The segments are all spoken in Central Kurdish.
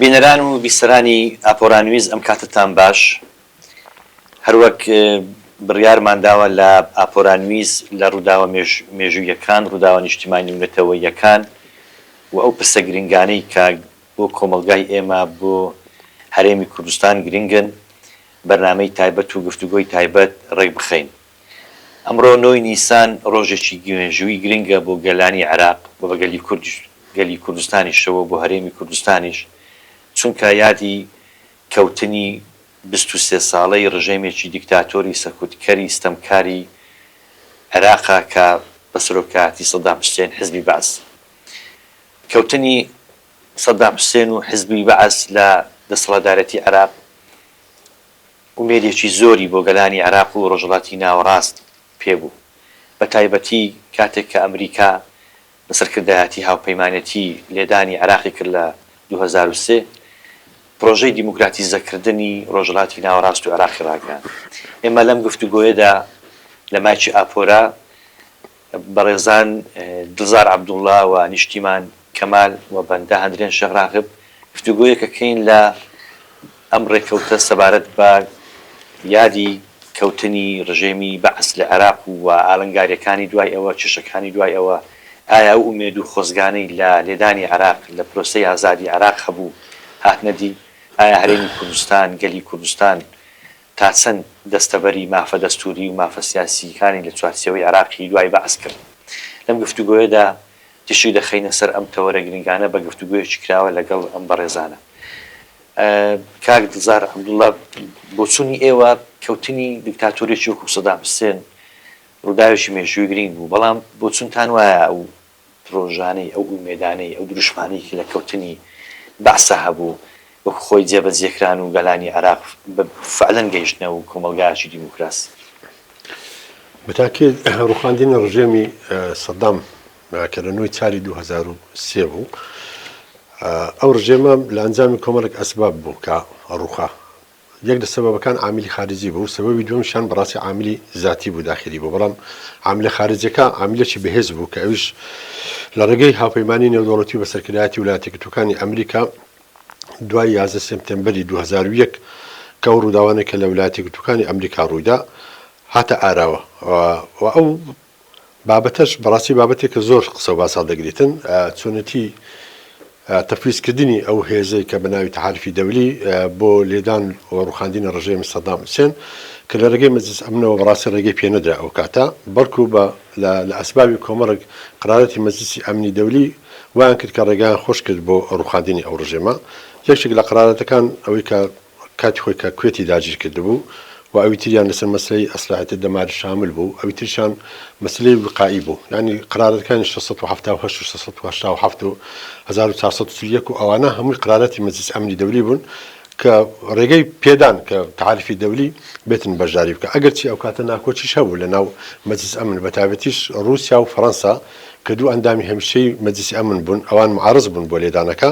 بینەران و بیسەرانی ئاپۆرانویز ئەم کاتەتان باش هەروەک بڕیارمان داوە لە ئاپۆرانویز لە ڕووداوە مێژوویەکان ڕووداوە نیشتیمانی و نەتەوەییەکان و ئەو پرسە گرنگانەی کە بۆ کۆمەڵگای ئێمە بۆ هەرێمی کوردستان گرنگن بەرنامەی تایبەت و گفتوگۆی تایبەت ڕێکبخەین. ئەمڕۆ نۆی نیسان ڕۆژێکی مێژووی گرنگە بۆ گەلانی عێراق و بە گەلی کوردیش گەلی کوردستانیشەوە بۆ هەرێمی کوردستانیش چونکا یادی کەوتنی بیست و سێ ساڵەی ڕژێمێکی دیکتاتۆری سەکوت کەری ستەمکاری عێراقە کە بە سەرۆکایەتی سەدام حسێن حزبی بەعس کەوتنی سەدام حسێن و حزبی بەعس لە دەسەڵاتدارێتی عێراق ئومێدێکی زۆری بۆ گەلانی عێراق و ڕۆژهەڵاتی ناوەڕاست پێ بوو، بە تایبەتی کاتێک کە ئەمریکا لە سەرکردایەتی هاوپەیمانێتی لێدانی عێراقی کرد لە دوو هەزار و سێ، پرۆژەی دیموکراتیزەکردنی ڕۆژهەڵاتی ناوەڕاست و عێراقی ڕاگەیاند. ئێمە لەم گفتوگۆیەدا لە مایکی ئاپۆرا، بەڕێزان دڵزار عەبدوڵا و نیشتیمان کەمال و بەندە هەندرێن شێخ راغب گفتوگۆیەک ئەکەین لە ئەم رێکەوتە سەبارەت بە یادی کەوتنی رژێمی بەعس لە عێراق و وە ئالنگاریەکانی دوای ئەوە کێشەکانی دوای ئەوە ئایا ئەو ئومێد و خۆزگانەی لە لێدانی عێراق لە پرۆسەی ئازادی عێراق هەبوو هاتنە دی ئایا هەرێمی کوردستان گەلی کوردستان تا چەند دەستەبەری مافە دەستووری و مافە سیاسییکانی لە چوارچێوەی عێراقی دوای بەعس کرد؟ لەم گفتوگۆیەدا تیشک دەخەینە سەر ئەم تەوەرە گرنگانە بە گفتوگۆیەکی کراوە لەگەڵ ئەم بەڕێزانە. کاک دڵزار عەبدوڵا، بۆچوونی ئێوە، کەوتنی دیکتاتۆرێکی وەکوو سەدام حسێن ڕووداوێکی مێژوویی گرنگ بوو، بەڵام بۆچوونتان وایە ئەو درۆژانەی، ئەو ئومێدانەی، ئەو دروشمانەی کە لە کەوتنی بەعسە هەبوو، وەک خۆی جێبەجێکران و گەلانی عێراق بە فەعلەن گەیشتنە و کۆمەڵگایەکی دیموکراسی. بە تاکی ڕووخاندنی ڕژێمی سەدام کە لە نۆی چاری دوو هەزار و سێ بوو، ئەو ڕژێمە لە ئەنجامی کۆمەڵێک ئەسباب بوو کە ڕووخا، یەک لە سەبەبەکان عاملی خارجی بوو، سەبەبی دووەمیشیان بەڕاستی عاملی زاتی بوو، داخیلی بوو، بەڵام عاملە خارجیەکە عاملێکی بەهێز بوو کە ئەویش لە ڕێگەی هاوپەیمانیی نێودەوڵەتی و بە سەرکردایەتی ولایەتە گرتووەکانی ئەمریکا دوای یازدە سێپتێمبەری دوو هەزار و یەک کە ئەو ڕووداوانەی کە لە ولایەتە گرتووەکانی ئەمریکا ڕوویدا هاتە ئاراوە و ئەو بابەتەش بەڕاستی بابەتێکە زۆر قسە و باس هەڵدەگریتن، چۆنێتی تەفویز کردنی ئەو هێزەی کە بە ناوی تەحالفی دەولی بۆ لێدان و ڕووخاندنی ڕژێمی سەدام حوسێن کە لە ڕێگەی مەجلیس ئەمنەوە بەڕاستی ڕێگەی پێ نەدرا ئەو کاتە بەڵکوو بە لە ئەسبابی کۆمەڵێک قەرارەتی مەجلیسی ئەمنی دەولی وایان کرد کە ڕێگایان خۆش کرد بۆ ڕووخاندنی ئەو ڕژێمە یەکێک لە قەرارەتەکان ئەوەی کە کاتی خۆی کە کوێتی داگیر کردبوو و ئەوی تریان لەسەر مەسەلەی ئەسلەحەتی دەماری شامل بوو، ئەوی تریشان مەسەلەی وقائی بوو، یانی قەرارەتەکانی شەش سەد و حەفتا و هەشت و شەش سەد و هەشتا و حەفت و هەزار و چوار سەد و چل و یەک و ئەوانە هەمووی قەرارەتی مەجلیس ئەمنی دەولی بوون کە ڕێگەی پێدان کە تەحالفی دەولی بێتن بەشداری بکە، ئەگەرچی ئەو کاتە ناکۆکیش هەبوو لەناو مەجلیس ئەمن بەتایبەتیش ڕووسیا و فەرەنسا کە دوو ئەندامی هەمیشەی مەجلیسی ئەمن بوون ئەوان معارز بوون بۆ لێدانەکە،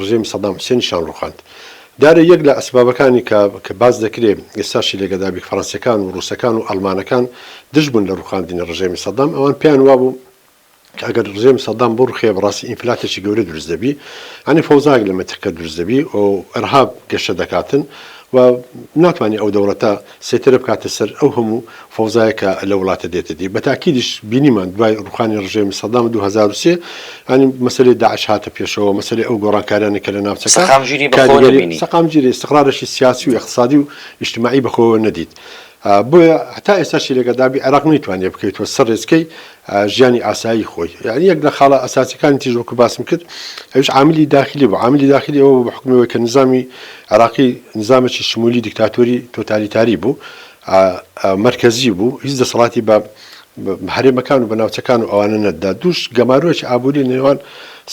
ڕژێمی سەدام حوسێنی شان ڕوخاند. دارێ یەک لە ئەسبابەکانی کە کە باس دەکرێ ئێستاشی لە گەدابی فەڕەنسیەکان و ڕوسەکان و ئەڵمانەکان دژ بوون لە ڕوخاندنی ڕژێمی سەدام ئەوان پێیان وابوو کە ئەگەر ڕژێمی سەدام بڕوخێ بەڕاستی ئینفلاتێکی گەورە دروست دەبی یانی فەوزایەک لە مەنتیقە دروست دەبی و ئەرهاب گەشە دەکاتن و ناتوانی ئەو دەوڵەتە سێتەرە بکاتە سەر ئەو هەموو فەوزایە کە لەو وڵاتە دێتە دی. بە تاکیدیش بینیمان دوای ڕووخانی ڕژێمی سەدام دوو هەزار و سێ یانی مەسەلەی داعش هاتە پێشەوە، مەسەلەی ئەو گۆڕانکاریانەی کە لە ناوچەکە سەقامگیری بە خۆوە کاریگەری نەبینی. سەقامگیری، ئیستقرارێکی سیاسی و ئیقتسادی و ئیجتماعی بە خۆوە نەدیت. بۆیە هەتا ئێستاشی لەگەدابی عێراق نەیتوانیە بکەویتەوە سەر ڕێچکەی ژیانی ئاسایی خۆی یانی یەک لە خاڵە ئەساسیەکانی تیژ وەکو باسم کرد ئەوش عاملی داخلی بوو عاملی داخلی ئەوە بە حکومەوەی کە نظامی عراقی نظامێکی شمولی دیکتاتۆری تۆتالیتاری بوو مرکزی بوو هیچ دەسەڵاتی بە هەرێمەکان و بەناوچەکان و ئەوانە نەدا دوش گەمارۆکی ئابووری نێوان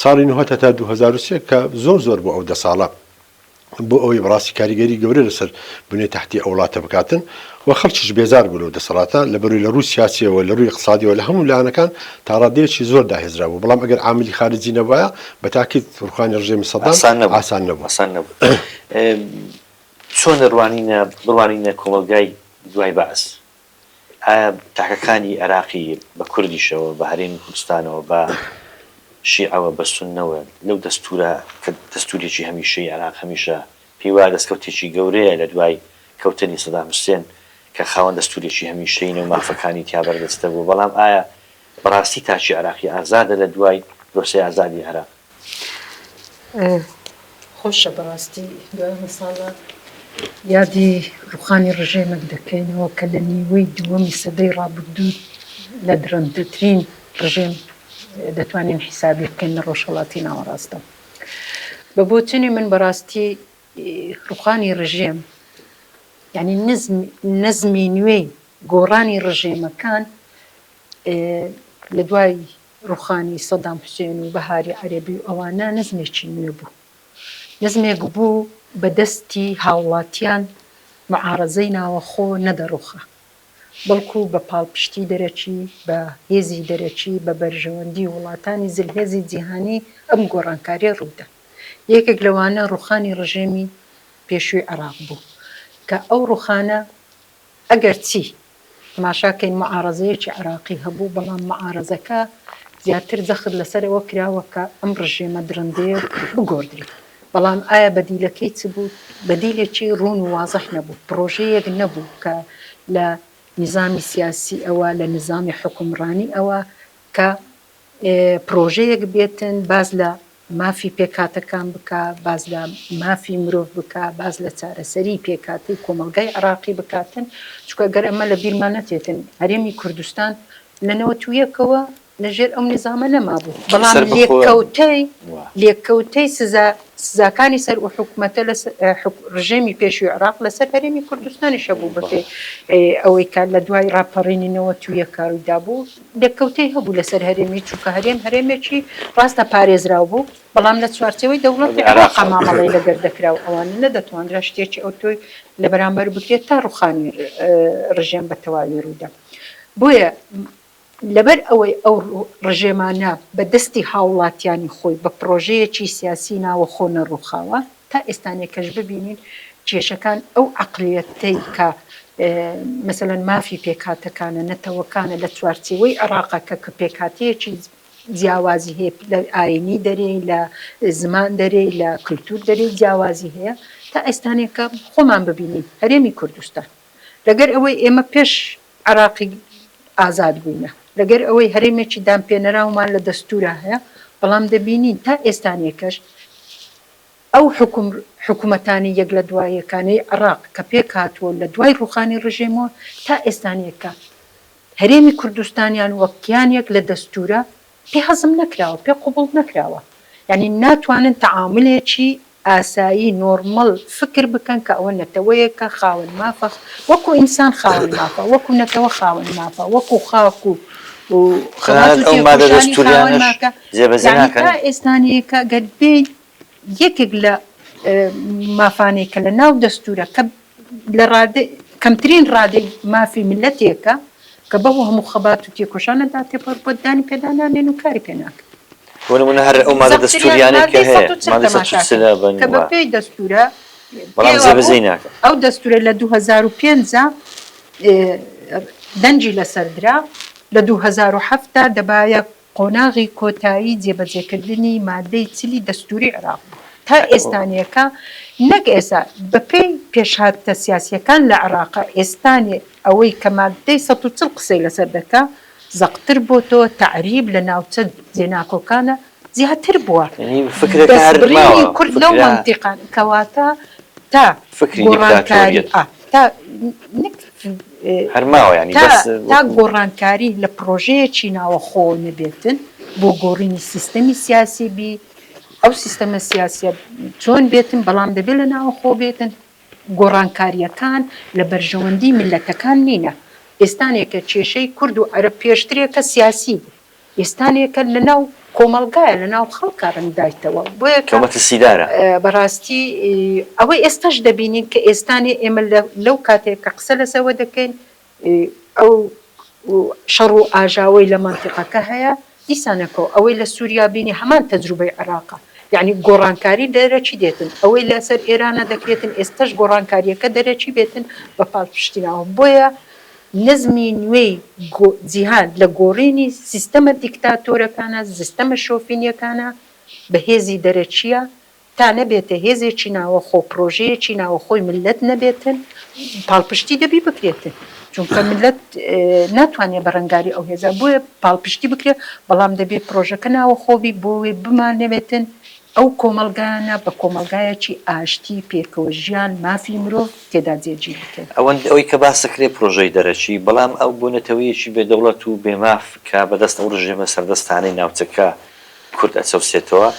ساڵی نهۆ تا 2023 کە زۆر زۆر بۆ ئەو دە ساڵە بۆ ئەوەی بەڕاستی کاریگەری گەورە لەسەر بنەی تەحتی ئەو وڵاتە بکاتن و خەڵکیش بێزار بوو لەو دەسەڵاتە لەبەروی لە رووی سیاسیەوە لە رووی اقتصادیەوە لە هەموو لایەنەکان تا رادەیەکی زۆر داهێزرا بوو بەڵام ئەگەر عاملی خارجی نەبوایە بە تاکید روخانی رژێمی سەدام ئاسان نەبوو. چۆن دەڕوانینە بڕوانینە کۆمەڵگای دوای بەعس؟ ئایا تاکەکانی عێراقی بە کوردیشەوە، بە هەرێمی کوردستانەوە، بە شیعەوە، بە سوننەوە، لەو دەستوورە کە دەستوورێکی هەمیشەیی عێراق هەمیشە پێی وایە دەستکەوتێکی گەورەیە لە دوای کەوتنی سەدام حوسێن کە خاوەن دەستوورێکی هەمیشەیینە و مافەکانی تیا بەردەستە بووە، بەڵام ئایا بەڕاستی تاکی عێراقی ئازادە لە دوای پرۆسەی ئازادی عێراق. خۆشە بەڕاستی دوای ئەمە ساڵە یادی ڕوخانی ڕژێمەک دەکەینەوە کە لە نیوەی دووەمی سەدەی ڕابردوو لە درندترین ڕژێم دەتوانین حیسابی بکەین لە ڕۆژهەڵاتی ناوەڕاستدا بە بۆچونی من بەڕاستی ڕوخانی ڕژێم یعنی نزم نزمی نوێی گۆڕانی ڕژێمەکان لە دوای ڕوخانی سەدام حوسێن و بەهاری عەرەبی و ئەوانە نەزمێکی نوێ بوو نەزمێک بوو بە دەستی هاوڵاتیان معارەزەی ناوەخۆ نەدەڕوخا بەڵکو بە پاڵپشتی دەرەکی بە هێزی دەرەکی بە بەرژەوەندی وڵاتانی زلهێزی جیهانی ئەم گۆڕانکاریە ڕوویدا یەکێک لەوانە ڕوخانی ڕژێمی پێشووی عێراق بوو کە ئەو ڕوخانە ئەگەرچی تەماشاکەین موعارەزەیەکی عێراقی هەبوو، بەڵام موعارەزەکە زیاتر جەخت لەسەر ئەوە کراوە کە ئەم ڕژێمە دڕندەیە بگۆڕدرێت، بەڵام ئایا بەدیلەکەی چ بوو؟ بەدیلێکی ڕوون و وازح نەبوو، پڕۆژەیەک نەبوو کە لە نیزامی سیاسییەوە، لە نیزامی حوکمڕانییەوە کە پڕۆژەیەک بێتن باس لە مافی پێکهاتەکان بکا، باس لە مافی مرۆڤ بکا، باس لە چارەسەری پێکهاتەی کۆمەڵگای عێراقی بکاتن، چونکە گەر ئەمە لە بیرمان نەچێتن هەرێمی کوردستان لە نەوەت و یەکەوە لە ژێر ئەو نیزامە نەمابوو، بەڵام لێکەوتەی لێکەوتەی سزا سزاکانی سەر ئو حکومەتە لە ڕژێمی پێشوی عێراق لە سەر هەرێمی کوردستانیش هەبوو بەپێی ئەوەی کە لە دوای ڕاپەڕینی نەوەت و یەکە ڕوویدابوو، لێککەوتەی هەبوو لەسەر هەرێمی، چونکە هەرێم هەرێمێکی ڕاستە پارێزراو بوو، بەڵام لە چوارچێوەی دەوڵەتی عێراقا مامەڵەی لەگەر دەکرا و ئەوانە نەدەتواندرا شتێکی ئەوتۆی لە بەرامبەر بکرێت تا ڕووخانی ڕژێم بە تەواوی ڕوویدا. بۆیە لەبەر ئەوەی ئەو ڕژێمانە بە دەستی هاوڵاتیانی خۆی بە پڕۆژەیەکی سیاسی ناوەخۆ نەڕووخاوە، تا ئێستانێکەش ببینین کێشەکان ئەو عەقلیەتەی کە مەسەلەن مافی پێکهاتەکانە، نەتەوەکانە لە چوارچێوەی عێڕاقەکە کە پێکهاتەیەکی جیاوازی هەیە، لە ئاینی دەرێ، لە زمان دەرێ، لە کلتور دەرێ جیاوازی هەیە، تا ئێستانێکە خۆمان ببینین هەرێمی کوردستان لەگەر ئەوەی ئێمە پێش عێڕاقی ئازاد بووینە، لەگەر ئەوەی هەرێمێکی دانپێنەراومان لە دەستورا هەیە، بەڵام دەبینین تا ئێستانێکەش، ئەو حکومەتانی یەک لە دوا یەکانەی عێڕاق کە پێک هاتووە لە دوای ڕووخانی ڕژێمەوە تا ئێستانیەکە هەرێمی کوردستانیان وەک کیانێک لە دەستوورە پێ هەزم نەکراوە پێ قبوڵ نەکراوە یانی ناتوانن تەعامولێکی ئاسایی نۆرمەڵ فکر بکەن کە ئەوە نەتەوەیەکە خاوەن مافە وەکو ئینسان خاوەن مافە وەکو نەتەوە خاوەن مافە وەکو خاک و خەبات و تێکۆشانی خاوەن مافە. جێبەجێ ناکەن؟ یانی تا ئێستانەیەکە گەر بێی یەکێک لە مافانەی کە لە ناو دەستورە کە لە ڕادەی کەمترین ڕادەی مافی ملەتێکە کە بەو هەموو خەبات و تێکۆشانەدا تێپەڕبوە دانی پێدا نانێن و کاری پێ ناکەن. بۆ نمونە هەر ئەو مادە دەستوریانەی کە هەیە مادەی سەد و چل تەماشاکەن کە بە پێی دەستورە بەڵام جێبەجێی ناکەن. ئەو دەستورە لە دوو هەزار و پێنج دەنگی لەسەر درا لە دوو هەزار و حەفت دا دەبایە قۆناغی کۆتایی جێبەجێکردنی مادەی چلی دەستووری عێراق بووە تا ئێستانیەکە، نەک ئێستا، بەپێی پێشهاتە سیاسییەکان لە عێراق ئێستانیە ئەوەی کە مادەی سەد و چڵ قسەی لەسەر دەکا زەقتر بۆتەوە، تەعریب لە ناوچە جێناکۆکانە زیاتر بووە، دەستبڕینی کورد لەو مەنتیقانە، کەواتە تا گۆڕانکاری، تا. تا گۆڕانکاری لە پڕۆژەیەکی ناوەخۆوە نەبێتن بۆ گۆڕینی سیستەمی سیاسی بی ئەو سیستەمە سیاسیە چۆن بێتن بەڵام دەبێت لە ناوەخۆ بێتن گۆڕانکاریەکان لە بەرژەوەندی ملەتەکان نینە ئێستانێکە کێشەی کورد و عەرەب پێشترێکە سیاسی بوو وێستانێکە لە ناو کۆمەڵگایە لە ناو خەڵکە ڕەنگ دایتەوە بۆیە کە مەترسیدارە. بەڕاستی ئەوەی ئێستاش دەبینین کە ئێستانێ ئێمە لەو کاتێ کە قسە لە سەوە دەکەین ئەو شەڕ و ئاژاوەی لە مەنتیقەکە هەیە دیسانەکەو ئەوەی لە سوریا بینی هەمان تەجروبەی عێراقە یەعنی گۆڕانکاری دەرەکی دێتن ئەوەی لە سەر ئێرانە دەکرێتن ئێستاش گۆڕانکاریەکە دەرەکی بێتن بە پاڵپشتیناوە بۆیە نزمی نوێی جیهان لە گۆڕینی سیستەمە دیکتاتۆرەکانە، زستەمە شۆفینیەکانە بە هێزی دەرەکیە، تا نەبێتە هێزێکی ناوەخۆ، پرۆژەیەکی ناوەخۆی ملت نەبێتن، پاڵپشتی دەبی بکرێتن، چونکە ملت ناتوانێ بەرەنگاری ئەو هێزە، بۆیە پاڵپشتی بکرێ، بەڵام دەبێ پرۆژەکە ناوەخۆ بی، بۆیە بمانەوێتن ئەو کۆمەڵگایانە بە کۆمەڵگایەکی ئاشتی، پێکەوە ژیان، مافی مرۆڤ. تێدا جێگیر بکەین. ئەوەند ئەوەی کە باس دەکرێت پرۆژەی دەرەکی، بەڵام ئەو بۆ نەتەوەیەکی بێ دەوڵەت و بێ ماف کە بە دەست ئەو رژێمە سەردەستانەی ناوچەکە کورد ئەچەوسێتەوە،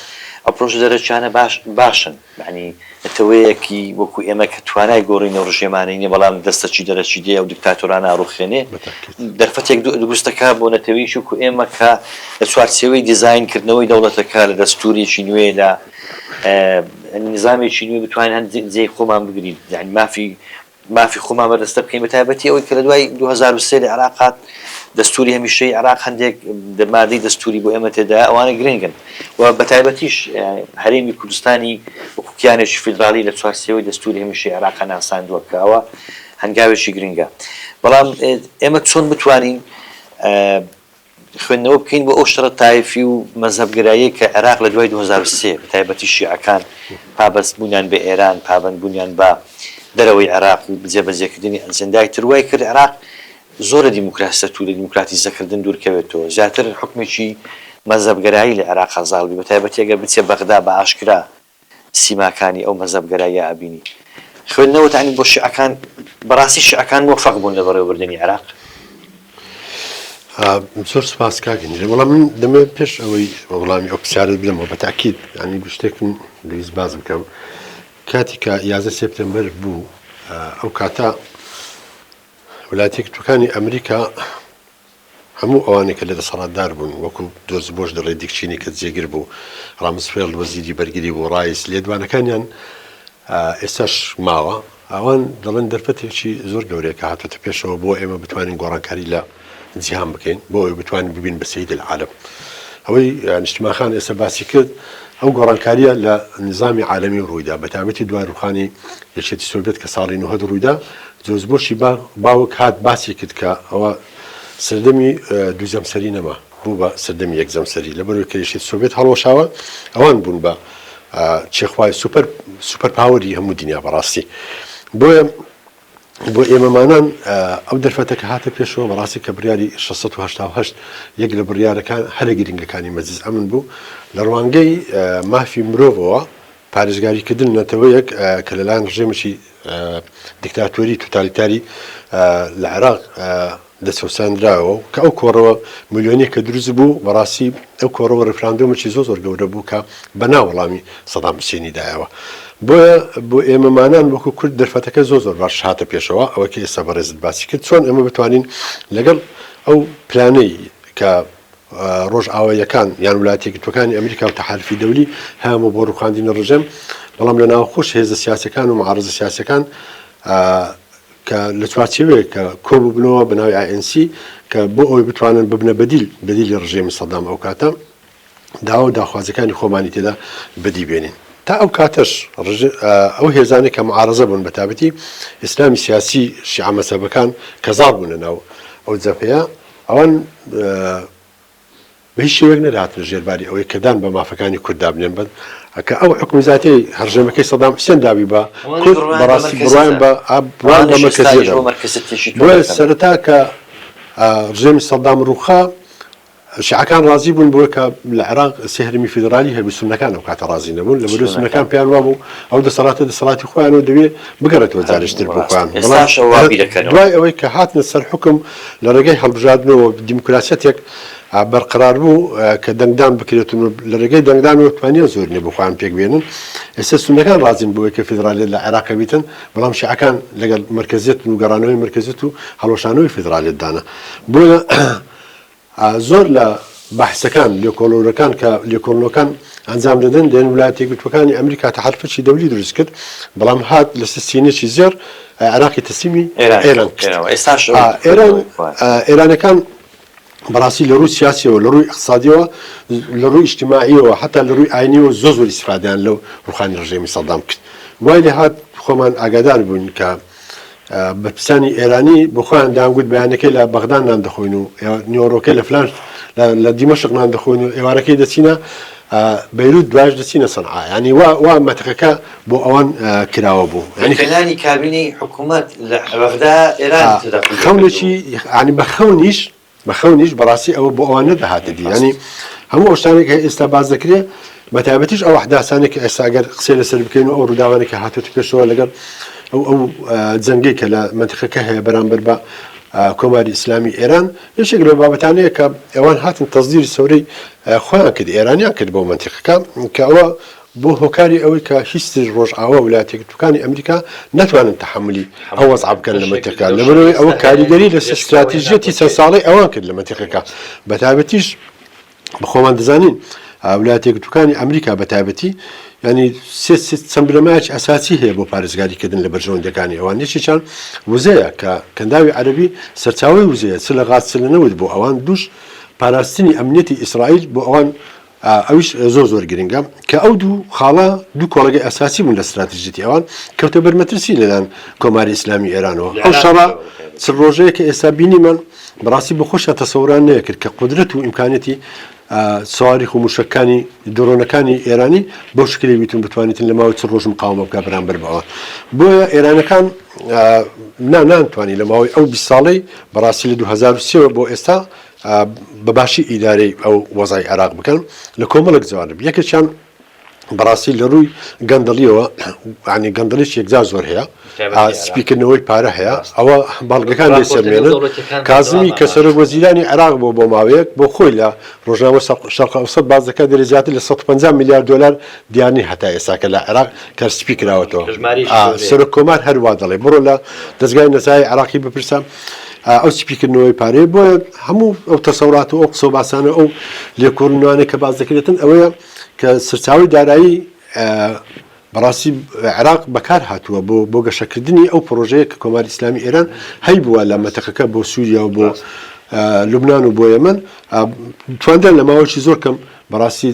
ئەو پرۆژە دەرەکیانە باش باشن، یانی نەتەوەیەکی وەکو ئێمە کە توانای گۆڕینی ئەو رژێمانەی نیە بەڵام دەستەکی دەرەکی دێ ئەو دیکتاتۆرانە ئەڕوخێنێ، دەرفەتێک دروست دەکا بۆ نەتەوەیەکی وەکو ئێمە کە لە چوارچێوەی دیزاین کردنەوەی دەوڵەتەکە لە دەستورێکی نوێ لە. نیزامێکی نوێ بتوانین هەند جێی خۆمان بگرین یعنی مافی مافی خۆمان بەرزتر بکەین بە تایبەتی ئەوەی کە لە دوای 2023 لە عێراق هات دەستوری هەمیشەی عێراق هەندێک دەمادەی دەستوری بۆ ئێمە تێدا ئەوانە گرنگن و بە تایبەتیش هەرێمی کوردستانی وکوکیانێکی فیدراالی لە چوارسەوەی دەستوری هەمیشەی عێراق ناساندووە کە ئەوە هەنگاوێکی گرنگە بەڵام ئێمە چۆن بتوانین خوێندنەوە بکەین بۆ ئەو شەڕە تایفی و مەزهەبگەراییەی کە عێراق لە دوای دوو هەزار و سێ بە تایبەتی شیعەکان پابەستبوونیان بە ئێران، پابەندبوونیان بە دەرەوەی عێراق و جێبەجێکردنی ئەجێندای تر وای کرد عێراق زۆر لە دیموکراسیەت و لە دیموکراتیزەکردن دوورکەوێتەوە، زیاتر حوکمێکی مەزهەبگەرایی لە عێراقا زاڵ بێ بە تایبەتی ئەگەر بچێ بەغدا بە ئاشکرا. سیماکانی ئەو مەزهەبگەراییە ئەبینی خوێندنەوەت ئەنی بۆ شیعەکان بەڕاستی شیعەکان مۆفەق بوون لە بەڕێوەبردنی عێراق؟ زۆر سپاس کاک هەنیرە وەڵام من دەمێ پێش ئەوەی وەڵامی ئەو پرسیارت بدەمەوە بە تاکید ئەنی گشتێکم دەویست باز بکەم کاتی کە یازە سپتمبر بوو ئەو کاتە ولاتی کتەکانی ئەمریکا هەموو ئەوانەی کە لە دەسەڵاتدار بوون، وەکو جۆرج بۆش دەڵێ دیک چینی کە جێگر بوو، ڕامسفێڵد وەزیری بەرگری بوو، ڕایس، لێدوانەکانیان ئێستاش ماوە. ئەوان دەڵێن دەرفەتێکی زۆر گەورەیە کە هاتۆتە پێشەوە بۆ ئێمە بتوانین گۆڕانکاری لە جیهان بکەین، بۆ ئەوەی بتوانین ببین بە سەید العالم. ئەوەی نیشتمان خان ئێستا باسی کرد، ئەو گۆڕانکارییە لە نیزامی عالەمی ڕووی دا، بە تایبەتی دوا ڕووخانی یەکێتی سۆڤیەت کە ساڵی نۆهەد ڕووی دا، جۆرج بۆشی باوک هات باسی کرد کە ئەوە سەردەمی دوو جەمسەری نەما بوو بە سەردەمی یەک جەمسەری لەبەرەوەی کە یەکێتی سۆڤێت هەڵوەشاوە ئەوان بوون بە چێخوای سوپەر سوپەر پاوەری هەموو دنیا بەڕاستی بۆیە بۆ ئێمەمانان ئەو دەرفەتە کە هاتە پێشەوە بەڕاستی کە بڕیاری 1688 یەک لە بڕیارەکان هەرە گرنگەکانی مەجلس ئەمن بوو لە ڕوانگەی مافی مرۆڤەوە پارێزگاریکردن نەتەوەیەک کە لەلایەن ڕژێمێکی دیکتاتۆری توتالیتاری لە عێراق دەچەوساندراوە کە ئەو کۆڕەوە ملیۆنی کە دروست بوو بەڕاستی ئەو کۆڕەوە ڕفراندۆمەی زۆ زۆر گەورە بوو کە بە ناوەڵامی سەدام حسێنی دایەوە بۆیە بۆ ئێمەمانان وەکو کورد دەرفەتەکە زۆ زۆر باش هاتە پێشەوە ئەوە کە ئێستا بەڕێزت باسی کرد چۆن ئەمە بتوانین لەگەڵ ئەو پلانەی کە ڕۆژئاواییەکان یان ولایەتە یەکگرتووەکانی ئەمریکا و تەحالفی دەولی هەیانبوو بۆ ڕووخاندنی ڕژێم، بەڵام لە ناوەخۆش هێزە سیاسیەکان و معارەزە سیاسیەکان کە لە چوارچێوەیەک کە کۆببنەوە بە ناوی ANC کە بۆ ئەوەی بتوانن ببنە بەدیل بەدیلی ڕژێمی سەدام ئەو کاتە داوا و داخوازیەکانی خۆمانی تێدا بەدی بێنین. تا ئەو کاتەش ئەو هێزانەی کە معارەزە بوون بە تابەتی ئیسلامی سیاسی شیعە مەزهەبەکان کە زاڵ بوون لە ناو ئەو جەبهەیە، ئەوان بە هیچ شێوەیەک نەدەهاتنە ژێر باری ئەوەی کە دان بە مافەکانی کورد دابنێن بەس کە ئەو حوکمی زاتیەی هەڕژێمەکەی سەدام حوسێن دابی بە کورد بەڕاستی بڕوایان بە بڕوایان بە مەرکەزیە دەبوو بۆیە سەرەتا کە ڕژێمی سەدام ڕووخا شیعەکان ڕازی بوون بۆیە کە لە عێراق سێ هەرمی فیدرالی هەبوو سونەکان ئەو کاتە ڕازی نەبوون لە بەرو سونەکان پێیان وابوو ئەو دەسەڵاتە دەسەڵاتی خۆیانەوە دەوێت بگەڕێتەوە جارشتر بۆ خۆیان بەڵام دوای ئەوەی کە هاتنە سەر حوکم لە ڕێگای هەڵبژاردنەوە دیموکراسیەتێک بەرقەرار بوو کە دەنگدان بکرێت و لە ڕێگەی دەنگدانەوە توانیان زۆرینە بۆ خۆیان پێک بێنن. ئێستا سوننەکان ڕازین بەوەی کە فیدرالیەت لە عێراق بیتن، بەڵام شیعەکان لەگەڵ مەرکەزیەتن و گەڕانەوەی مەرکەزیەت و هەڵوەشانەوەی فیدرالیەتدانە. بۆیە زۆر لە بەحسەکان لێکۆڵەورەکان کە لێکۆڵنەوەکان ئەنجام دەدەن دەێن ولایەتە یەکگرتووەکانی ئەمریکا کە حەلفەچی دەولی دروست کرد بەڵام هات لە سستینێکی زێر عێراقی تەسلیمی ئێران ئێران ئێرانەکان بەڕاستی لە ڕووی سیاسیەوە لە ڕووی اقتصادیەوە لە ڕووی ئیشتیماعیەوە حتا لە ڕووی ئاینیەوە زۆ زۆر ئیسفادیان لەو ڕوخانی ڕژێمی سەدام کرد وای لە هاات خۆمان ئاگادار بووین کە بەرپرسانی ئێرانی بە خۆیان دەیانگوت بەیانەکەی لە بەغدا نان دەخۆین و نیوەڕۆکەی لە فلان لە دیمەشق نان دەخۆین و ئێوارەکەی دەچینە بەیروت دوایش دەچینە سەنعا یعنی وا وا مەتەقەکە بۆ ئەوان کراوە بوو یعنی فلانی کابینەی حکوومەت لە بەغدا ئێران خەونێکی یعنی بە خەونیش بەخەونیش بەڕاستی ئەوە بۆ ئەوان نەدەهاتە دی یانی هەموو ئەو شتانەی کە ئێستا باس دەکرێ بەتایبەتیش ئەو ئەحداسانەی کە ئێستا گەر قسەی لەسەر بکەین و ئەو ڕووداوانەی کە هاتۆتە پێشەوە لەگەڵ ئەو ئەو جەنگەی کە لە مەنتیقەکە هەیە بەرامبەر بە کۆماری ئیسلامی ئێران یەکێک لەو بابەتانەیە کە ئەوان هاتن تەزدیری سەورەی خۆیان کرد ئێرانیان کرد بۆ مەنتیقەکە کە ئەوە بووە هۆکاری ئەوەی کە هیچ رۆژئاوا و ولایەتەیەکگرتووەکانی ئەمریکا نەتوانن تەحەمولی ئەو وەزعە بکەن لە مەنتیقەکە لەبەرئەوەی ئەوە کاریگەری لەسەر ستراتیژیەتی چەند ساڵەی ئەوان کرد لە مەنتیقەکە بەتایبەتیش خۆمان دەزانین ولایەتەیەکگرتووەکانی ئەمریکا بەتایبەتی یانی چەند بنەمایەکی ئەساسی هەیە بۆ پارێزگاری کردن لە بەرژەوەندیەکانی ئەوان یەکێکیان وزەیە کە کەنداوی عەرەبی سەرچاوەی وزەیە چ لە غاز چ لە نەوت بۆ ئەوان دووش پاراستنی ئەمنیەتی ئیسرائیل بۆ ئەوان ئەویش زۆر زۆر گرنگە کە ئەو دوو خاڵە دوو کۆڵەگەی ئەساسی بوون لە ستراتژیەتی ئەوان کەوتە بەر مەترسی لەلایەن کۆماری ئیسلامی ئێرانەوە ئەو شەڕە چ ڕۆژەیە کە ئێستا بینیمان بەڕاستی بە خۆشە تەسەوران نەیەکرد کە قدرەت و ئیمکانەتی سواری و موشەکانی درۆنەکانی ئێرانی بۆ شکلی بیتون بتوانیتن لە ماوەی چ ڕۆژ مقاومە بکە بەرامبەر بەوە بۆیە ئێرانەکان نانانتوانی لە ماوەی ئەو 20 ساڵی بەڕاستی لە 2023 بۆ ئێستا بە باشی ئیدارەی ئەو وەزای عێراق بکەن لە کۆمەڵک جوانب یەکێکیان بەڕاستی لە ڕووی گەندەڵیەوە عنی گەندەڵیش یەکجار زۆر هەیە سپیکردنەوەی پارە هەیە ئەوە باڵگەکان لێ سەرمێنن کازمی کە سەرۆک وەزیرانی عراق بۆ بۆ ماوەیەک بۆ خۆی لە ڕۆژنامە شەرق ئەوسەد بازەکە دەری زیاتر لە 150 میلیارد دلار دیانی هەتا ئێساکە لە عێراق کە سپی کراوەتەوە سەرۆک کۆمار هەروا دەڵێ بڕۆ لە دەستگای نەزای عراقی بپرسە ئەو سپیکردنەوەی پارەیە بۆیە هەموو ئەو تەسەڵات و ئەو قسە و باسانە ئەو لێکۆڵنوانە کە باز دەکرێتن ئەوەیە کە سەرچاوی دارایی بەڕاستی عراق بەکار هاتووە بۆ بۆ گەشەکردنی ئەو پرۆژەیە کە کۆماری ئسلامی ئێران هەی بووە لە مەتەقەکە بۆ سووریا و بۆ لوبناان و بۆ یەمن تواندا لە ماوەشی زۆر کەم بەڕاستی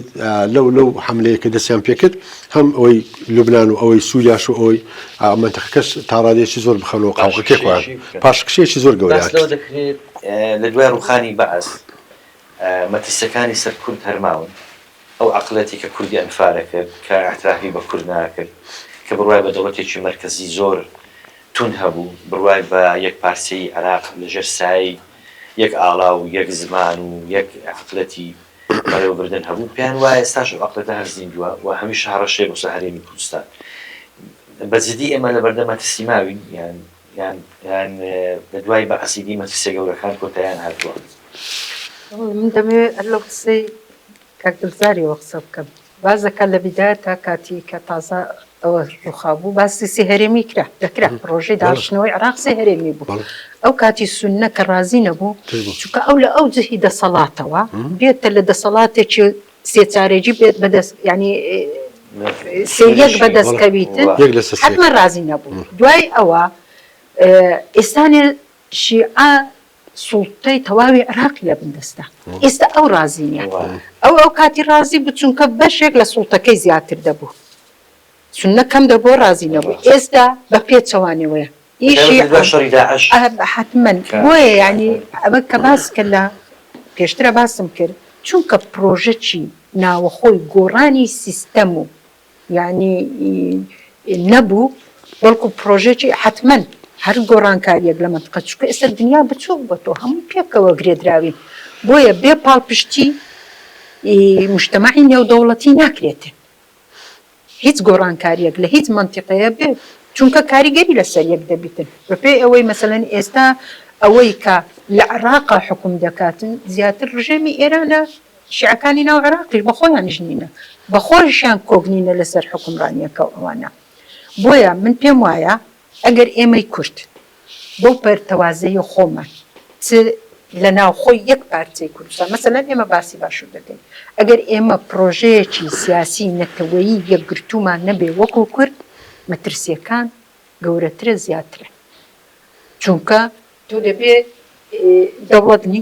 لەو لەو حەملەیە کە دەستیان پێکرد هەم ئەوەی لوبنان و ئەوەی سووریاش و ئەوەی مەنتەقەکەش تا ڕادەیەکی زۆر بخەنەوە قاوغەکەی خۆیان پاشکشەیەکی زۆر گەورەیان باس لەوە دەکرێت لە دوای ڕووخانی بەعس مەترسییەکانی سەر کورد هەر ماون ئەو عەقڵیەتی کە کوردی ئەنفالە کرد کە ئیعترافی بە کورد ناکرد کە بڕوای بە دەوڵەتێکی مەرکەزی زۆر توند هەبوو بڕوای بە یەک پارچەیی عێراق لەژێر سایەی یەک ئاڵا و یەک زمان و یەک عەقڵیەتی بەڕێوەبردن هەبوو پێیان وایە ئێستاش ئەو عەقدەتە هەر زیندووە و هەمیشە هەڕەشەیە بۆ سەر هەرێمی کوردستان. بە جدی ئێمە لەبەردەم مەترسی ماوین یان یان یان لە دوای بەعسی دی مەترسیە گەورەکان کۆتاییان هاتووە؟ من دەمەوێت هەر لەو قسەی کاک دڵزاریەوە قسە بکەم. بازەکە لە بیدایەتا کاتی کە تازە ئەوە ڕووخابوو باسی سێ هەرێمی کرا دەکرا پڕۆژەی داڕشتنەوەی عێراق سێ هەرێمی بوو ئەو کاتی سوننە کە ڕازی نەبوو چونکە ئەو لە ئەو جهی دەسەڵاتەوە بێتە لە دەسەڵاتێکی سێچارەگی بێت بەدەست یانی سێ یەک بەدەست کەویتن یەک لە سێ حەتمەن ڕازی نەبوو دوای ئەوە ئێستانێ شیعە سوڵتەی تەواوی عێراقی لە بن دەستە. ئێستا ئەو ڕازی نییە. ئەو ئەو کاتی ڕازی بوو چونکە بەشێک لە سوڵتەکەی زیاتر دەبوو. سوننە کەم دەبوو ڕازی نەبوو. ئێستا بە پێچەوانەوەیە. حەتمەن. بۆیە یانی ئەوە کە باس کرد لە پێشترە باسم کرد چونکە پرۆژەکی ناوەخۆی گۆڕانی سیستەم و یانی نەبوو بەڵکو پرۆژەکی حەتمەن هەر گۆڕانکاریەک لە مەنتقە چونکە ئێستا دنیا بچوک بۆتەوە هەمووی پێکەوە گرێدراوین بۆیە بێ پاڵپشتی ی مشتەمەعی نێودەوڵەتی ناکرێتێ هیچ گۆڕانکاریەک لە هیچ مەنتیقەیە بێ چونکە کاریگەری لەسەر یەک دەبیتن بە پێی ئەوەی مەسەلەن ئێستا ئەوەی کە لە عراقا حکوم دەکاتن زیاتر ڕژێمی ئێرانە شیعەکانی ناو عێراقیش بە خۆیانیش نینە، بە خۆیشیان کۆک نینە لەسەر حوکمڕانییەکەو ئەوانە. بۆیە من پێم وایە ئەگەر ئێمەی کورد بەو پەرتەوازەیی خۆمان چ لە ناوخۆی یەک پارچەی کوردستان، مەسەلەن ئێمە باسی باشور دەکەین، ئەگەر ئێمە پڕۆژەیەکی سیاسی نەتەوەیی یەکگرتوومان نەبێ وەکو کورد، مەترسییەکان گەورەترە زیاترە. چونکە تۆ دەبێ دەوڵەت نی.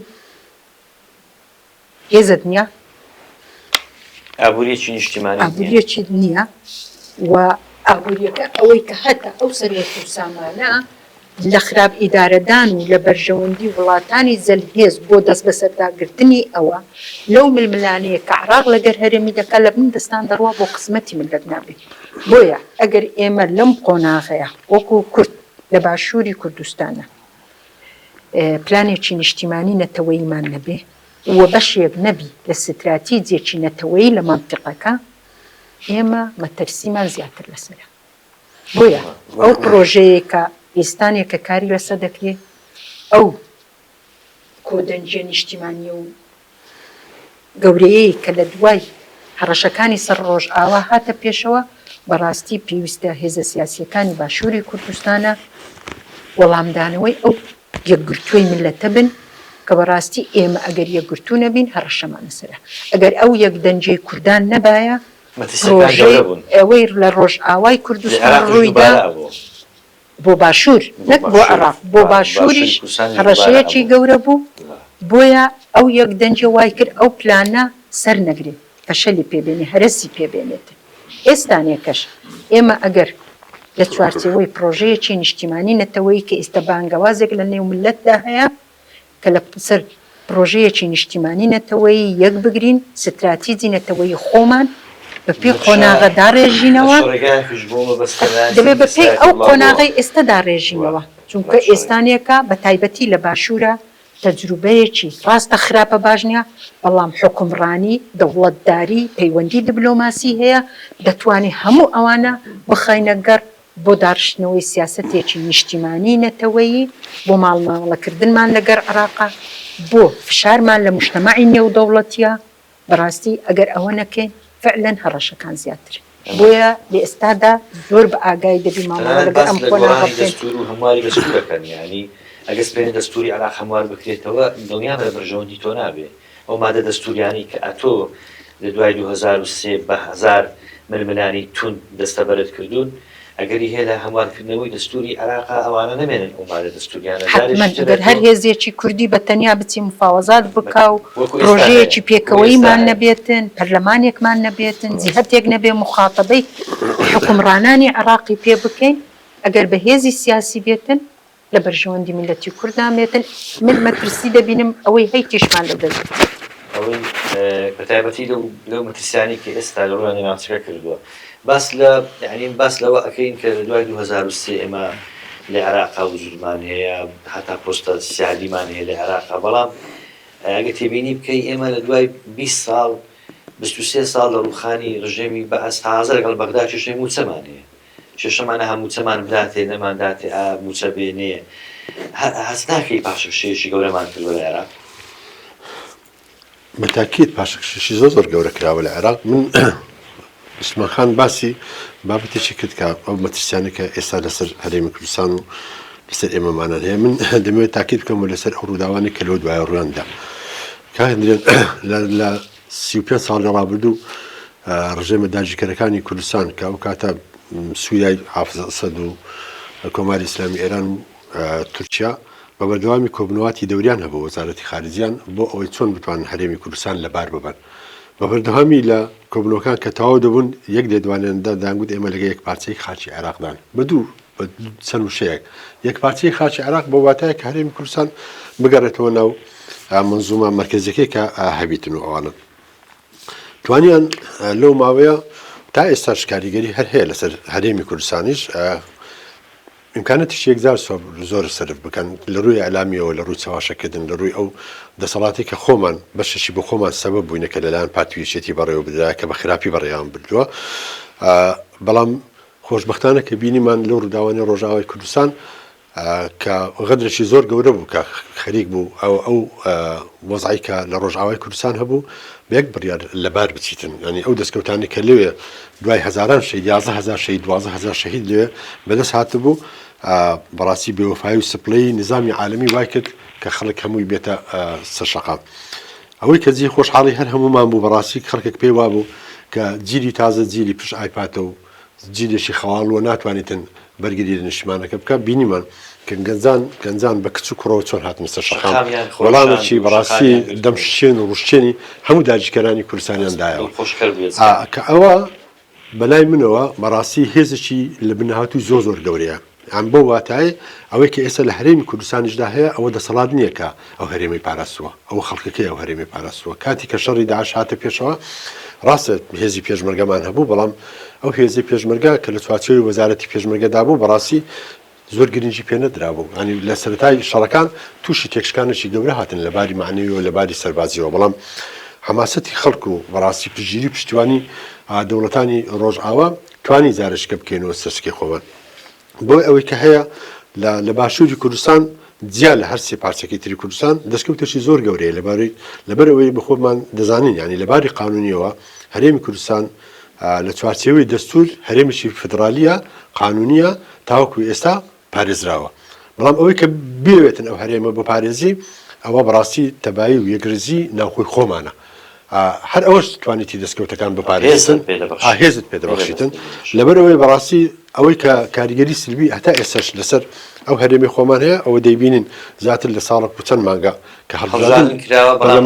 هێزت نیە ئابوریەکی نیشتیمانیت نیە ئابوریەکیت نیە و ئابوریەکە ئەوەی کە هەتە ئەو سەروەت و سامانە لە خراپ ئیدارەدان و لە بەرژەوەندی وڵاتانی زل هێز بۆ دەست بەسەردا گرتنی ئەوە لەو ململانێیە کە عراق لەگەر هەرێمی دەکا لە بن دەستان دەڕوا بۆ قسمەتی ملت نابی بۆیە ئەگەر ئێمە لەم قۆناغەیە وەکو کورد لە باشوری کوردستانە پلانێکی نیشتیمانی نەتەوەییمان نەبێ و بەشێک نەبی لە ستراتیجێکی نەتەوەیی لە مەنتیقەکە، ئێمە مەترسیمان زیاتر لەسەرە. بۆیە ئەو پڕۆژەیەی کە ئێستانێ کە کاری لەسەر دەکرێ، ئەو کۆدەنگییە نیشتیمانییە و گەورەیەی کە لە دوای هەڕەشەکانی سەر ڕۆژئاوا هاتە پێشەوە، بەڕاستی پێویستە هێزە سیاسییەکانی باشووری کوردستانە وەڵامدانەوەی ئەو یەکگرتووی میللەتە بن، کە بەڕاستی ئێمە ئەگەر یەکگرتوو نەبین هەڕەشەمان لەسەرە، ئەگەر ئەو یەکدەنگیەی کوردان نەبایە پرۆژەی ئەوەی لە ڕۆژئاوای کوردستان ڕوویدا، بۆ باشوور نەک بۆ عێڕاق بۆ باشووریش هەڕەشەیەکی گەورە بوو بۆیە ئەو یەک دەنگیە وای کرد ئەو پلانە سەر نەگرێ فەشەلی پێ بێنێ هەرەسی پێ بێنێتێ ئێستانێکەش ئێمە ئەگەر لە چوارچێوەی پڕۆژەیەکی نیشتیمانی نەتەوەیی کە ئیستە بانگەوازێک لە نێو میللەتدا هەیە کە لە سەر پرۆژەیەکی نیشتیمانی نەتەوەیی یەک بگرین، ستراتیجی نەتەوەیی خۆمان بە پێی قۆناغە داڕێژینەوە، دەبێت بە پێی ئەو قۆناغەی ئێستا داڕێژینەوە، چونکە ئێستانێکە بە تایبەتی لە باشوورا تەجروبەیەکی ڕاستە خراپە باش نیە، بەڵام حوکمڕانی، دەوڵەتداری، پەیوەندی دبلۆماسی هەیە، دەتوانین هەموو ئەوانە بخەینە گەڕ بۆ داڕشتنەوەی سیاسەتێکی نیشتیمانیی نەتەوەیی، بۆ ماڵمامەڵەکردنمان لەگەر عێراقە، بۆ فشارمان لە موشتەمەعی نێودەوڵەتییە، بەڕاستی ئەگەر ئەوە نەکەین فعلەن هەڕەشەکان زیاترن. بۆیە لە ئێستادا زۆر بە ئاگایی دەبین مامەڵە لەگەر ئەم قۆناغە بکەین. دەستوور و هەمواری بەچی دەکەن؟ یانی ئەگەر سبەینێ دەستووری عێراق هەموار بکرێتەوە، دڵنیابە بەرژەوەندی تۆ نابێ. ئەو مادە دەستووریانەی کە ئەتۆ لە دوای دوو هەزار و سێ بە هەزار ململانێی توند دەستەبەرت کردوون، ئەگەری هەیە لە هەموارکردنەوەی دەستووری عێراقا ئەوانە نەمێنن ئەو مادە دەستووریانە جارێکی تر ئەتۆ. حەتمەن، گەر هەر هێزێکی کوردی بە تەنیا بچی مفاوەزات بکا و پرۆژەیەکی پێکەوەییمان نەبێتن، پەرلەمانێکمان نەبێتن، جیهەتێک نەبێ موخاتەبەی حوکمڕانانی عێراقی پێ بکەین، ئەگەر بە هێزی سیاسی بێتن، لە بەرژەوەندی میللەتی کورد نامێتن، من مەترسی دەبینم ئەوەی هەی تیشمان لە دەست دەچێت. ئەوەی بە تایبەتی لەو لەو مەترسیانەی کە ئێستا لە ڕووی ناوچەکە کردووە باس لە یانی باس لەوە ئەکەین کە لە دوای دوو هەزار و سێ ئێمە لە عێراقا وجودمان هەیە هەتا پۆستە سیادیمان هەیە لە عێراقا بەڵام ئەگەر تێبینی بکەی ئێمە لە دوای بیست ساڵ بیست و سێ ساڵ لە ڕووخانی ڕژێمی بەعس تا ئازە لەگەڵ بەغدا کێشەی مووچەمان هەیە کێشەمان ئەها موچەمان بداتێ نەمان داتێ ئا موچە بێنێ هە هەست ناکەی پاشەکشەیەکی گەورەمان کردوە لە عێراق؟ بە تاکید پاشەکشەشی زۆر زۆر گەورە کراوە لە عێراق من عوسمان خان باسی بابەتێکی کرد کە ئەو مەترسیانە کە ئێستا لەسەر هەرێمی کوردستان و لەسەر ئێمەمانان هەیە من دەمەوێت تاکید بکەم و لەسەر ئەو ڕووداوانی کە لەو دوایە ڕویاندا کاندرێت لە سی و پێنج ساڵی ڕابردوو ڕژێمە داگیرکەرەکانی کوردستان کە ئەو کاتە سووریای حافز ئەسەد و کۆماری ئیسلامی ئێران و تورکیا بە بەردەوامی کۆبنەواتی دەوریان هەبوو وەزارەتی خارجیان بۆ ئەوەی چۆن بتوانن هەرێمی کوردستان لەبار ببەن بە بەردەوامی لە کۆبنەوەکان کە تەواو دەبوون یەک لێدوانیاندا دەیانگوت ئێمە لەگەڵ یەک پارچەی خاکی عێراقدان بە دوو بە چەند وشەیەک یەکپارچەی خاکی عێراق بە واتایە کە هەرێمی کوردستان بگەڕێتەوە ناو منزومە مەرکەزیەکەی کە هەبیتن و ئەوانە توانیان لەو ماوەیە تا ئێستا شکاریگەری هەر هەیە لەسەر هەرێمی کوردستانیش امکانەتی شێکزار زۆر سرف بکەن لە ڕووی ئەلامیەوە لە ڕووی چاواشەکردن لە ڕووی ئەو دەسەڵاتی کە خۆمان بەشەشی بە خۆمان سەبە بووینەکە لەلایەن پارتویشێتی بەڕێوە بدرا کە بە خراپی بەڕێیان بردووە بەڵام خۆشبەختانە کە بینیمان لەو ڕووداوانەی ڕۆژئاوای کوردستان کە غەدرێکی زۆر گەورە بوو کە خەریک بوو ئەو ئەو وەزعی کە لە ڕۆژئاوای کوردستان هەبوو بە یەک بڕیار لەبار بچیتن یانی ئەو دەستکەوتانی کە لەوێ دوای هەزاران شەهید یازدە هەزار شەهید دوازدە هەزار شەهید لەوێ بەدەست هاتبوو بەڕاستی بێوەفایی و سپڵەی نیزامی عالەمی وای کرد کە خەڵک هەمووی بێتە سەر شەقام ئەوەی کە جێی خۆشحاڵی هەر هەموومان بوو بەڕاستی خەڵکێک پێی وابوو کە جیلی تازە جیلی پشت ئایپاتە و جیلێکی خەواڵووە و ناتوانیتن بەرگری لە نیشتمانەکە بکات بینیمان کە گەنجان گەنجان بە کچ و کوڕەوە چۆن هاتنە سەر شەقام شەقامیان خۆشاند وەڵامێکی و بەڕاستی شەقامیان گرتن. دەمشکێن و ڕوشکێنی هەموو داگیرکەرانی کوردستانیان دایەوە. دڵخۆشکەر بوو ئێستا. ئا کە ئەوە بەلای منەوە بەڕاستی هێزێکی لەبنهاتووی زۆر زۆر گەورەیە، یان بەو واتایەی ئەوەی کە ئێستا لە هەرێمی کوردستانیشدا هەیە ئەوە دەسەڵات نییە کە ئەو هەرێمەی پاراستووە، ئەوە خەڵکەکەی ئەو هەرێمەی پاراستووە، کاتی کە شەڕی داعش هاتە پێشەوە ڕاستە هێزی پێشمەرگەمان هەبوو، بەڵام ئەو هێزەی پێشمەرگە کە لە چوارچێوەی وەزارەتی پێشمەرگەدا بوو بەڕاستی زۆر گرنگی پێ نەدرابوو، یانی لە سەرەتای شەڕەکان تووشی تێکشکانێکی گەورە هاتن لە باری مەعنەویەوە لە باری سەربازییەوە، بەڵام حەماسەتی خەڵک و بەڕاستی پشتگیری و پشتیوانی دەوڵەتانی ڕۆژئاوا توانی زارەشکە بکەینەوە سەرسکی خۆمان بۆ ئەوەی کە هەیە لە لە باشووری کوردستان جیا لە هەر سێ پارچەکەی تری کوردستان دەستکەوتێکی زۆر گەورەیە لەبارەی لەبەر ئەوەی بە خۆمان دەزانین یانی لە باری قانونیەوە هەرێمی کوردستان لە چوارچێوەی دەستوور هەرێمێکی فیدڕالییە قانوونییە تاوەکو ئێستا پارێزراوە، بەڵام ئەوەی کە بیەوێتن ئەو هەرێمە بپارێزی ئەوە بەڕاستی تەبایی و یەکڕیزی ناوخۆی خۆمانە هەر ئەوەش توانیتی دەستکەوتەکان بپارێزن هێزت پێ دەبەخشیتن لەبەر ئەوەی بەڕاستی ئەوەی کە کاریگەری سلبی هەتا ئێستاش لەسەر ئەو هەرێمی خۆمان هەیە ئەوە دەیبینین زیاتر لە ساڵە و چەند مانگا کە هەڵبژاردن کراوە بەڵام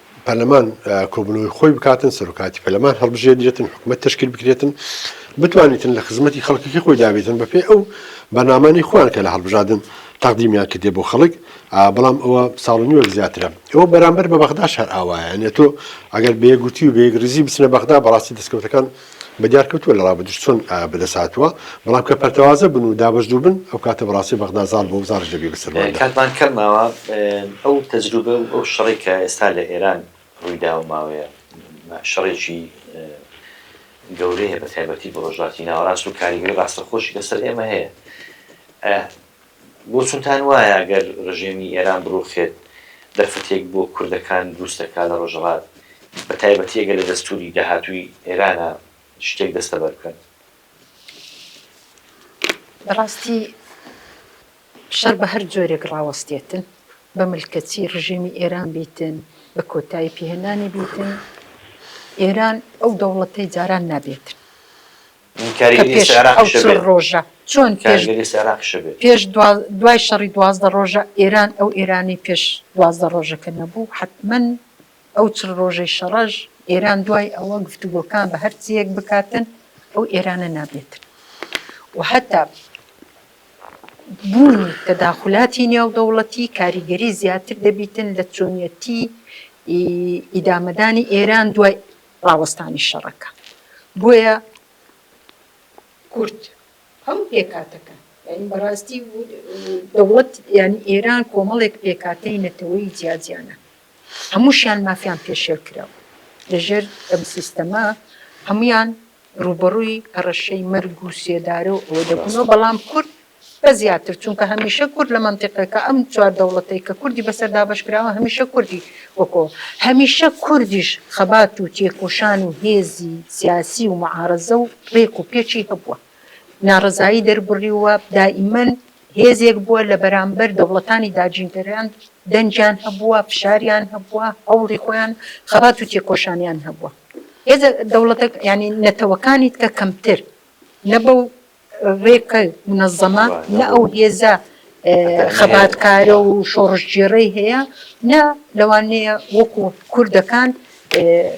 پەرلەمان کۆبونەوەی خۆی بکاتن، سەرۆکایەتی پەرلەمان هەڵبژێردرێتن، حکومەت تەشکیل بکرێتن، بتوانیتن لە خزمەتی خەڵکەکەی خۆی دابێتن بەپێی ئەو بەرنامانەی خۆیان کە لە هەڵبژادن تەقدیمیان کردێ بۆ خەڵک، بەڵام ئەوە ساڵ و نیوەک زیاترە ئەوە بەرامبەر بە بەغداش هەر ئاوایە، یانێ تۆ ئەگەر بەیەکگرتوی و بەیەکڕیزی بچنە بەغدا بەڕاستی دەسکەوتەکان. بە دیار کەوتووە لە ڕابردووش چۆن بە دەست هاتووە، بەڵام کە پەرتەوازە بن و دابەشدوو بن ئەو کاتە بە ڕاستی بەغدا زاڵ بۆ و زاڵیش دەبێ بە سەرماندا. کاتمان کەم ماوە، ئەو تەجروبە و ئەو شەڕەی کە ئێستا لە ئێران ڕووی داوە و ماوەیە شەڕێکی گەورەیە بە تایبەتی بۆ ڕۆژهەڵاتی ناوەڕاست و کاریگەری ڕاستەخۆشی لە سەر ئێمە هەیە. بۆچونتان وایە گەر رژێمی ئێران بروخێت دەرفەتێک بۆ کوردەکان دروست دەکات لە رۆژهەڵات بەتایبەتی ئەگەر لە دەستوری داهاتووی ئێرانە شتێک دەستەبەر بکەن؟ بەراستی شەر بە هەر جۆرێک راوەستێتن بە ملکەچی رژێمی ئێران بیتن بە کۆتایی پیهێنانی بیتن ئێران ئەو دەوڵەتەی جاران نابێتن. کە پێش ئەو چل ڕۆژە چۆن پێش دوای شەڕی دوازدە ڕۆژە ئێران ئەو ئێرانەی پێش دوازدە ڕۆژەکە نەبوو حتمەن ئەو چل ڕۆژەی شەڕەش ئێران دوای ئەوە گفتوگۆکان بە هەرچیەک بکاتن ئەو ئێرانە نابێتن و هەتا بوونی تەداخلاتی نێو دەوڵەتی کاریگەری زیاتر دەبیتن لە چۆنیەتی ئیدامەدانی ئێران دوای ڕاوەستانی شەڕەکە بۆیە کورد هەموو پێکهاتەکە یانی بەڕاستی دەوڵەت یانی ئێران کۆمەڵێک پێکاتەی نەتەوەی جیاجیانە هەمووشیان مافیان پێشێل کراوە لەژێر ئەم سیستەما هەمویان ڕوبەڕووی هەڕەشەی مەرگ و سێدارە و ئەوە دەبنەوە بەڵام کورد بە زیاتر چونکە هەمیشە کورد لە مەنتیقەکە ئەم چوار دەوڵەتەی کە کوردی بەسەر دابەش کراوە هەمیشە کوردی وەکۆ هەمیشە کوردیش خەبات و تێکۆشان و هێزی سیاسی و معارەزە و ڕێک و پێکی هەبووە ناڕەزایی دەربڕیووە دائیمەن هێزێک بووە لە بەرامبەر دەوڵەتانی داگینکەران دەنگیان هەبووە فشاریان هەبووە هەوڵی خۆیان خەبات و تێکۆشانیان هەبووە هێزە دەوڵەتە یانی نەتەوەکانیت کە کەمتر نە بەو ڕێکە منەزەمە، نە ئەو هێزە خەباتکارە و شۆڕشگێڕەی هەیە، نە لەوانەیە وەکو کوردەکان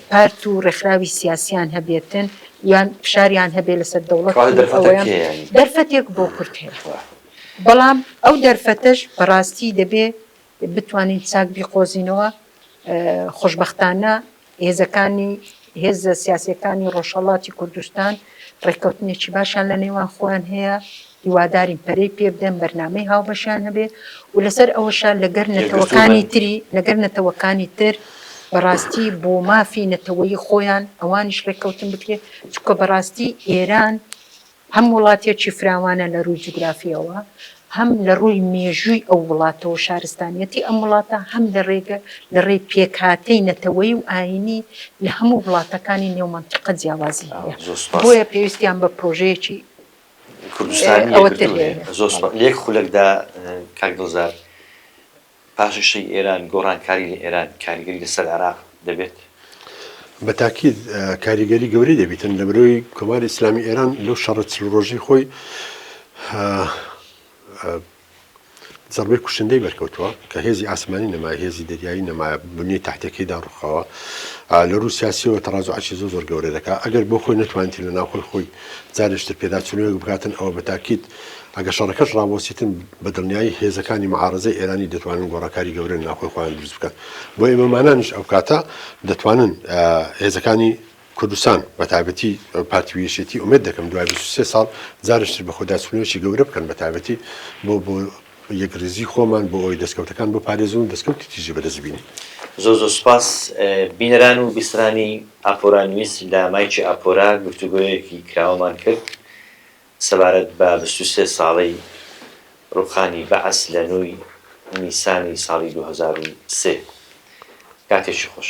پارت و ڕێکخراوی سیاسییان هەبێتن یان فشاریان هەبێت لەسەر دەوڵەت. کەواتە دەرفەتە کێیە یانی؟ دەرفەتێک بۆ کورد هەیە، بەڵام ئەو دەرفەتەش بەڕاستی دەبێ بتوانین چاک بیقۆزینەوە، خۆشبەختانە هێزەکانی هێزە سیاسیەکانی ڕۆژهەڵاتی کوردستان ڕێککەوتنێکی باشیان لە نێوان خۆیان هەیە هیوادارین پەرەی پێ بدەن بەرنمەی هاوبەشیان هەبێ و لەسەر ئەوەشە لەگەر نەتەوەکانی تری لەگەر نەتەوەکانی تر بەڕاستی بۆ مافی نەتەوەی خۆیان ئەوانیش ڕێککەوتن بکرێت چکە بەڕاستی ئێران هەم وڵاتێکی فراوانە لە رووی جوگرافییەوە، هەم لە رووی مێژووی ئەو وڵاتەوە شارستانیەتی ئەم وڵاتە، هەم لە رێگە لە رێی پێکهاتەی نەتەوەیی و ئایینی لە هەموو وڵاتەکانی نێو مەنتیقە جیاوازی هەیە. بۆیە پێویستیان بە پرۆژەیەکی ئەوەتر هەیە. پاشەکشەی ئێران، گۆڕانکاری لە ئێران کاریگەری لەسەر عێراق دەبێت؟ بە تاکید کاریگەری گەورەی دەبیتن لە برۆی کۆماری ئیسلامی ئێران لەو شەڕە چل ڕۆژی خۆی زەربەی کوشندەی بەرکەوتووە کە هێزی ئاسمانی نەمای هێزی دەریایی نەمایە بنی تحتەکەیدا ڕوخەوە لە روو سیاسیەوە تەڕاز و عشی زۆ زۆر گەورە دەکات ئەگەر بۆ خۆی نتوانێت لە ناوخۆی خۆی جارشتر پێداچونەوە بکاتن ئەوە بە تاکیت ئەگەر شەڕەکەش ڕابوەستیتن بە دڵنیایی هێزەکانی معارەزەی ئێرانی دەتوانن گۆڕانکاری گەورە لە ناوخۆی خۆیان دروست بکەن بۆ ئێمەمانانیش ئەو کاتە دەتوانن هێزەکانی کوردستان بە تایبەتی پارتی ویشێتی ئومێد دەکەم دوای 23 ساڵ جارشتر بە خۆداچوونەوەی گەورە بکەن بە تایبەتی بۆ بۆ یەکریزی خۆمان بۆ ئەوی دەستکەوتەکان بۆ پارێزون دەستکەوتی تیژی بەدەستبینی زۆ زۆ سپاس بینەران و بیسرانی ئاپۆرا نیوز لە مایکی ئاپۆرا گفتوگۆیەکی کراوەمان کرد سەبارەت بە بیست و سێ ساڵەی ڕووخانی بەعس لە نۆی نیسانی ساڵی دوو هەزار و سێ، کاتێکی خۆش.